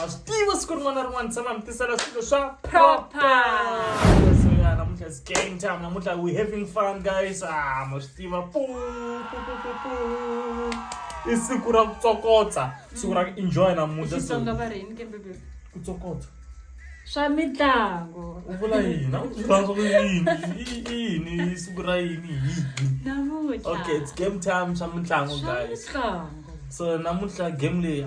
wa swi tiva siku rin'wana na rin'wana tshama mi tisela swilo swa propersoya namuntlha is game time namuntlha we having fun guys ah ma swi tiva i siku ra ku tsokotsa siku ra ku enjoy namuntlha ku tsokotsa swa mitlango u vula yini a ku vula swa ku yini yini i siku ra yini yini namuntlha okay it's game time swa mitlango guys so namuntlha game leyi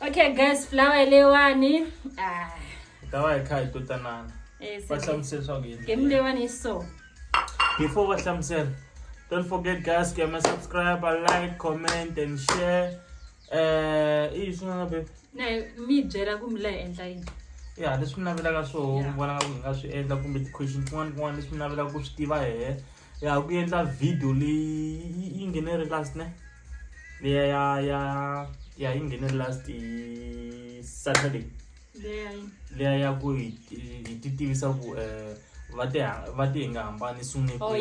okay guys flower leyiwani ah. hi ta va hi kha hi to tanana eh, va hlamusela swa ku game leyiwani yi so before va hlamusela don't forget guys ku yama subscribe like comment and share um i yi swin'wana be na mi byela ku mi la endla yini ya leswi mi navelaka swo vonaka ku hi nga swi endla kumbe ti-question tin'wana tin'wana leswi mi navelaka ku swi tiva hehe ya ku endla video leyi yi nghene ri last ne leya ya ya ya yi nghene ri last hi saturday leya ya ku hi ti tivisa ku um va te va te hi nga hambani sungule oh,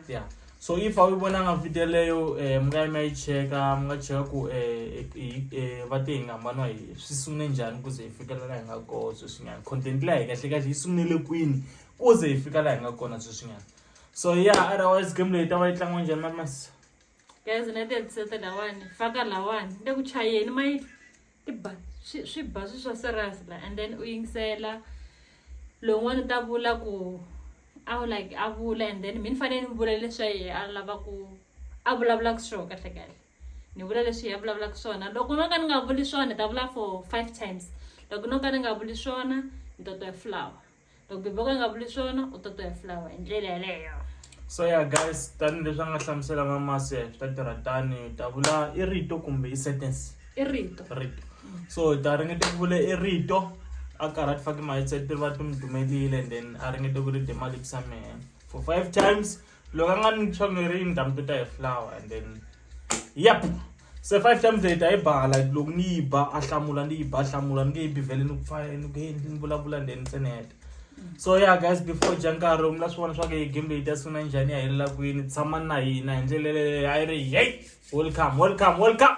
ya so if a wu vonanga video leyo um mi nga yi mi ya yi cheka mi nga cheka ku um va te hi nga hambaniwa hi swi sungule njhani ku ze hi fikelela hi nga koo sweswinyana content leya hi kahle kahle yi sungulele kwini ku ze hi fika laha hi nga kona sweswinyana so ya yeah, otherwise game leyi ta va yi tlangiwa njhani mamasi guys na tiepisode lawani faka lawani le ku chayeni ma yi ti ba swi ba swi swa serious la and then u yingisela lowun'wana u ta vula ku a wu like a vula and then mi ni fanele ni vula leswi a ye a lava ku a vulavulaka swona kahle kahle ni vula leswi hi ya vulavulaka swona loko no ka ni nga vuli swona ni ta vula for five times loko no ka ni nga vuli swona ni ta twa flower loko bebe ka nga vuli swona u ta to ya fulawa hi ndlela yeleyo so ya guys tanihileswi a nga hlamusela va masi ya swi ta tirha tani ta vula i rito kumbe i sentence i rito rito so hi ta ringete ku vula i rito a karhi a ti fake mahetseti ri va ti n'wi dumelile and then a ringete ku ri dema lips a mehe for five times loko a nga ni chomeri ni ta mi tota hi flower and then yep se five times leyi ta yi ba like loko ni yi ba a hlamula ni yi ba hlamula ni nge yi bivhele ni ku pfa ni ku endli ni vulavula and then ntsena heta so ya yeah, guys before dya nkarhi u mi la swi vona swa ku hi game leyi ta sungula njhani ya helela kwini tshama na hina hi ndlela leyi a yi ri hey welcome welcome welcome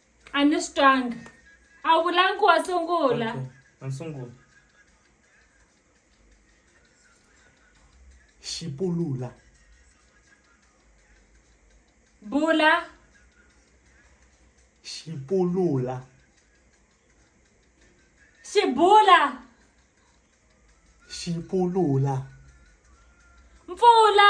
a ni swi twanga a wu vulangi wa sungula Okay, a ni sungula xipulula bula xipulula xibula xipulula mpfula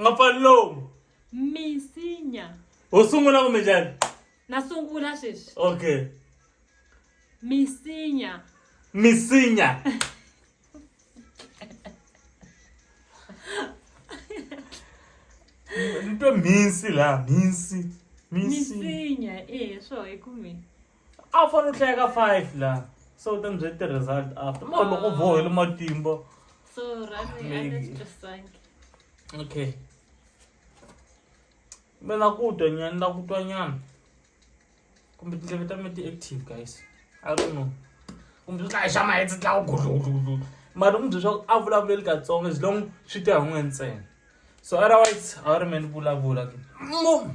nga pfali lomu misinya ho sungula kumbe njhani na sungula sweswi okay misinya misinya ni twe mhinsi laha mhinsi misinya e swo hi kume a wu fanele u hlaya ka five laha se u ta ni byela ti-result after ma loko vohele matimba so rani a ni swi twisangi okay me na ku twa nyana ni la ku twa nyana kumbe tindleve ta me ti-active guys i don't know kumbe swi tlaya xa mahetse tlawu gudlugudlugudlu mara u mi bye swaku a vulavuleli katsongo as long swi te hi n'we ntsena so otherwise a wu ri me ni vulavula ke mo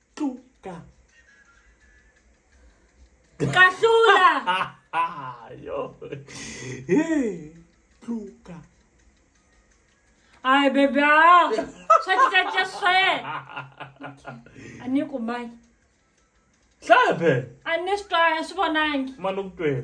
Tuka. Kahlula. Yo. Hey, Tuka. Ay bebe. Swa ti tsatsa swe. Ani kumai. Hlaya phela. Ani swi twanga swi vonangi. Mani u ku twela.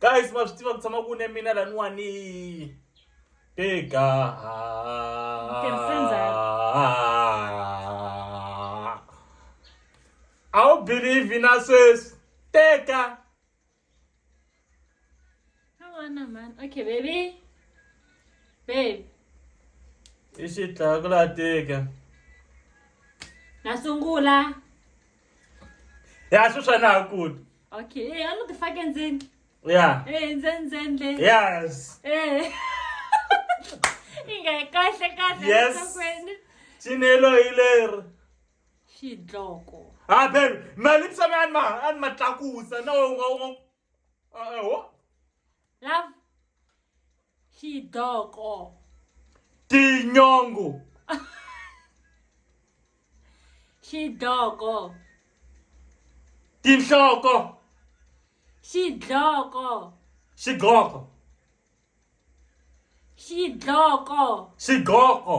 guys ma swi tiva ku tshama ku ne mina laniwani teka a wu believe na sweswi teka Havana man. Okay, baby. Babe. i xitlaku la teka Na sungula. ya sweswi a na ha kuti Okay, eh, I know the fucking thing. Yeah. Eh, zen zen le. Yes. Eh. Inga kahle kahle Yes. sakweni. Chinelo hiler. Xidloko. Ah, ben, mali psame anma anma tlakusa na unga unga. Ah, eh, ho. love xidoko tinyongo xidoko tinhloko xidloko xidloko xidloko xidloko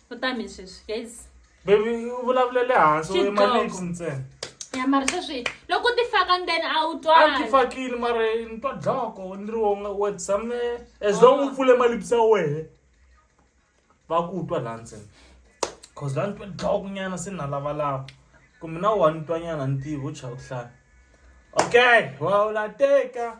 u ta mi sweswi guys baby u vulavula le hansi u yima lips ntsena ya mara sweswi loko u ti faka ndeni a wu twaa ti fakile mara ni twa dloko ni ri wonga we tshame as long u oh. pfule malips ya wehe va ku twa laha ntsena cause laha ni twa dloko nyana se ni na lavalava kumbe na wa ni twa nyana ni tivi u chava ku hlaya okay wa u la teka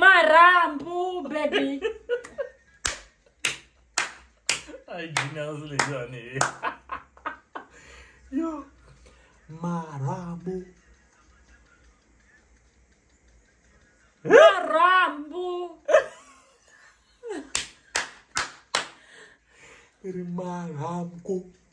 marhambu baby ai genius leyani yo marhambu marhambu ri marhambu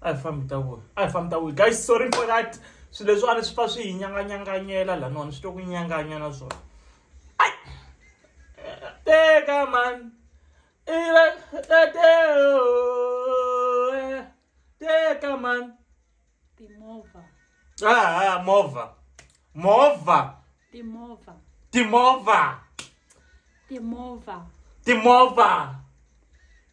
a hi fambi ta vuya a hi fambi ta vuya guys sorry for that swilo leswiwani swi fa swi hi nyanganyanganyela laniwani swi to ku nyanganya na swona ai teka man ila tateo teka man timovha ah movha movha timovha timovha timovha timovha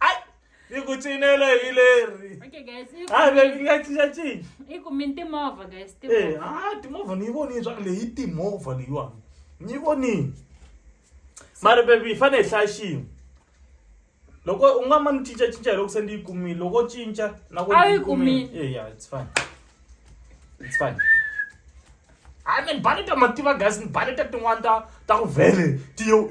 ai ni ku cinela hi leri okay guys i ku- a ve nga cincacinca i ku mini timovha guys Eh, timovha ah, timovha ni yi vonile swa ku leyi i timovha leyiwani ni yi vonile mara bebi hi fanele hi hlaya xin'we loko u nga ma ni cincacinca hi loko se ndi yi kumile loko cinca na ku A wu yi kumile. Eh, yeah, it's fine it's fine a ni baleta mativa gas ni baleta tin'wana ta ta ku vhele tiyo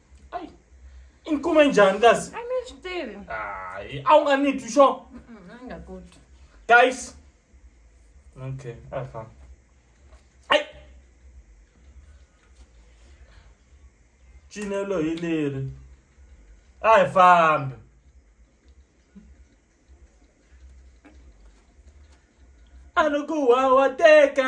ayi i ni kume njhani kasi a ni swi tivi hayi a wu nga ni twi xo a ni nga ku twi guys okay a hi famba ayi cinelo hi leri a hi fambi a ni ku wawateka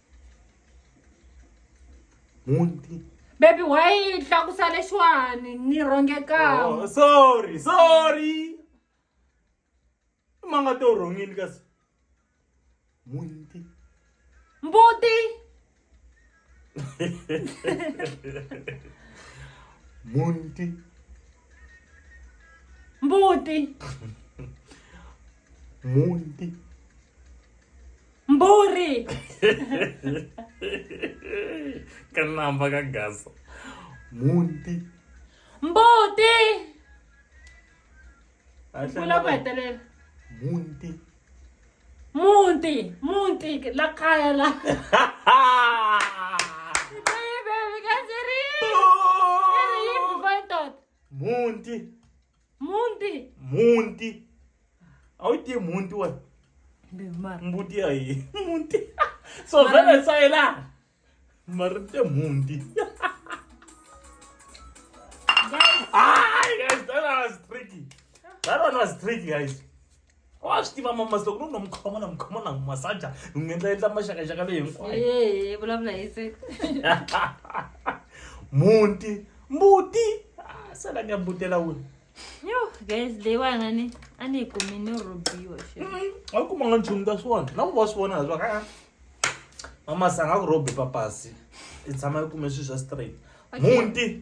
muti bebi wayi tlakusa lexiwani ni rhongekaka oh, sorry sorry ma nga to rhongini kasi muti mbuti muti mbuti muti mburi kanamba ka gasa munti mbuti kula ku hetelela munti munti munti la kaya la munti Mhunti. Mhunti. A wu tivi mhunti wena? Mbuti ya yini? Mhunti. So vhele sa yelana. Mara te mhunti. Guys. Ah, guys, that was tricky. That one was tricky, guys. wa swi tiva mamasi loko no no mi khoma na mi khoma na n'wi masaja ni n'wi endla endla maxakaxaka leyi hinkwayo Hey, vulavula hi se. munti mbuti Ah, se la ni ya mbutela wini Yo, guys, leyiwana ni a ni yi kumi ni rhobiwa xi. a kuma nga nchumu ta swona na ku va swi vona leswaku a mamasi a nga ku rhobi papasi i tshama i kume swilo swa straight Okay. munti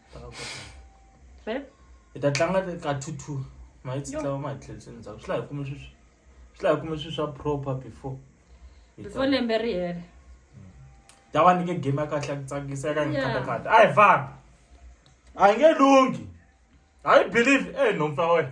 hi ta tlanga ka two two ma yi tsitlawa ma hi tlheliseni ndzhaku swi la hi kume sweswi swi la hi kume sweswi swa proper before before lembe ri hela ta va nike game ya kahle ya ku tsakisa ya ka ngikatakata a hi famba a hi nge lunghi a yi believe e nhompfu ya wena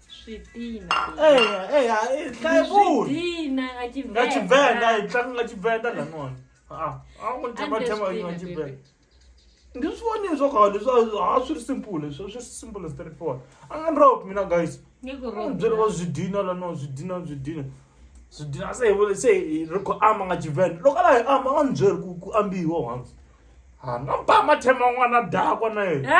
eya eya hi hlaya vuli nga Tshivenḓa hi tlanga nga Tshivenḓa lan'wana a a ku ni thema thema yi nga Tshivenḓa ndi swi vonile swa khale leswi a swi ri simple leswi swi simple straight forward a nga ni rope mina guys ni byele va swi dina lan'wana swi dina swi dina swi dina se hi vule se hi ri ku ama nga Tshivenḓa loko a la hi ama a nga ni byeli ku ku ambiwa once ha nga ba mathema n'wana dakwa na yena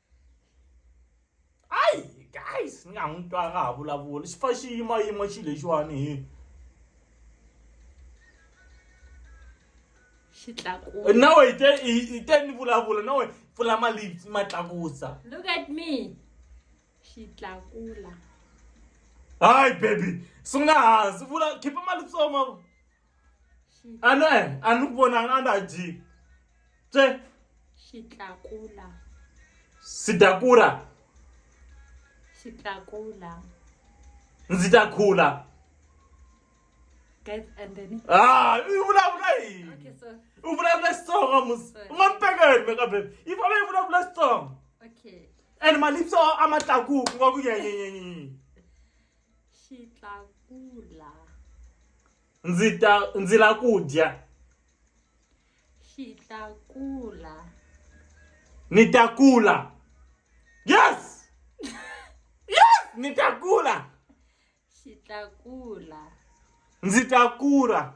guys ni nga n'wi twa nga ha vulavula xi fa xi yimayima xilo lexiwani hi xitlakusa nawe hi te hi te ni vulavula nawe pfula mali ma tlakusa look at me xitlakula hayi baby sungula hansi vula khipa mali tsoma a no eh, a ni ku vonanga a na dyi tse xitlakula sidakura xitlakula ndzi ta khula ah, u vulavula yini u vulavula xitsonga mus u nga ni pekeni mekabe yi fana yi vulavula xitsonga and malipso a ma tlakuki nga ku nyenyenyenyenye Xitlakula. Ndzi ta ndzi la ku dya. Xitlakula. Ni ta kula. Yes! yes! Ni ta kula. Xitlakula. ndzi ta kura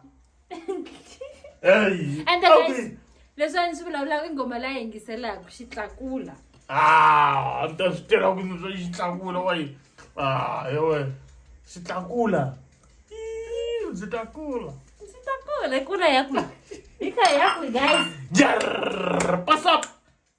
Hey, And the okay. guys, leswi a ni swi vulavulaka i nghoma la yingiselaka xi tlakula Ah, a ni ta swi tirha ku ndzi swa xi tlakula wa yi ah yewe xi tlakula Ii, ndzi ta kula ndzi ta kula kula ya kwihi yi kha ya kwihi guys Jarrr, pass up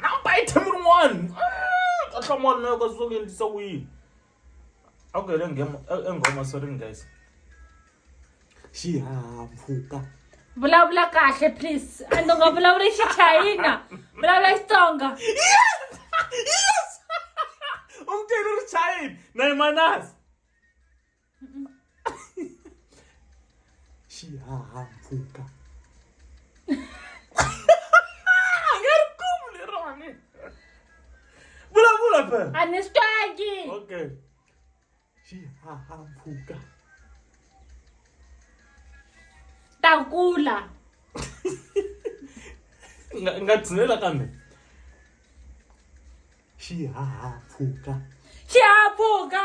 na ba item rin'wana a hlamala na yoka swo endlisa ku yini a ku hele nghema enghoma sorry guys xihahampfhuka vulavula kahle please and u nga vulavuli xichayina vulavula xitsonga yes yes umteni ri chayini na imanasi xihahampfhuka Pepper. A ni swi twangi. Okay. Xihahampfhuka. Ta kula. Nga nga tshinela kambe. Xihahampfhuka. Xihahampfhuka.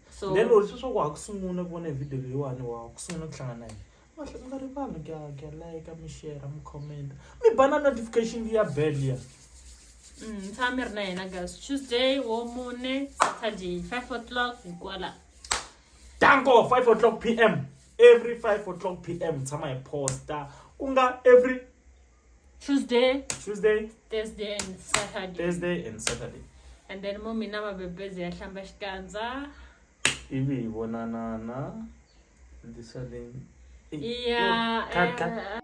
so then lori sweswaku wa ha ku sungula ku vona hi video leyiwani wa ku sungula ku hlangana yini mi nga rivali kya kya like mi share mi comment mi ba na notification ya bell ya mm, tshama mi ri na yena guys tuesday wo mune saturday five o'clock hikwala danko five o'clock p m every five o'clock p m tshama hi posta ku nga every tuesday tuesday thursday and saturday thursday and saturday and then mo mina mabebezi ya hlamba xikandza ivi hi vonanana ndisaleni iya eh,